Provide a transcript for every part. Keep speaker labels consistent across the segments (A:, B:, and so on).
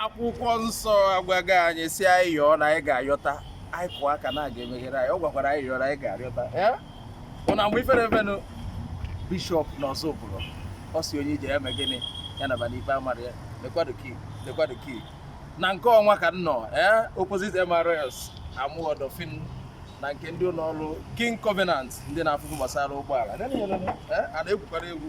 A: akwụkwọ nsọ agwago anyị sị anyị yọọ na anyị ga-ayọta anyị kụọ aka na a ga-emeghere anyị ọ gwakwara anyị yọọ na anyị ga-ayọta mụ na mgbe ifere efenụ bishọp na Ozubulu ọ sị onye ije ya mee gịnị ya naba n'ikpe amara ya lekwado key na nke ọnwa ka m nọ ee opposite MRS Amuwo Odofin na nke ndị ụlọ ọrụ king covenant ndị na-afụ ife gbasara ụgbọala a na-egwukwara egwu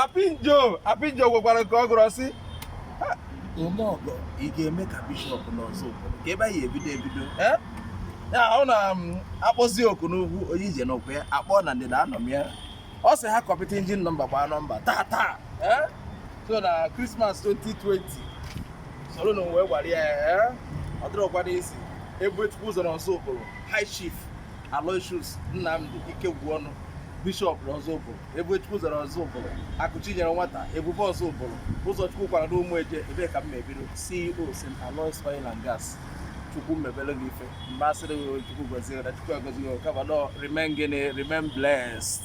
A: apinjo apinjo gwakwara nke ọ gụrụ sị omeọgọ ị ga-eme ka bishọp n'Ozubulu ka ebe anyị ebido ebido eh? ya ọ na-akpọzi um, oku n'ugwu onye ije nọkwa ya akpọ na ndịda anọ m ya ọ sị ha kọpịta injin nọmba gbaa nọmba taa taa eh? so na krismas 2020 soro na wee gwara ya eh? ọ dịrọkwa easy Ebubechukwu ụzọ n'Ozubulu high chief aloysius nnamdi Ikegwuọnụ bishọp n'Ozubulu Ebubechukwu ụzọ n'Ozubulu Akụchinyere nwata Ebube Ozubulu ụzọchukwu kwara n'Ụmụeje ebe ka m ebido CEO St. Aloys Oil and Gas chukwu mebere gị ife mgbe asịrị gị chukwu gọzie na chukwu agọzi gị kama nọ remain gịnị remain blessed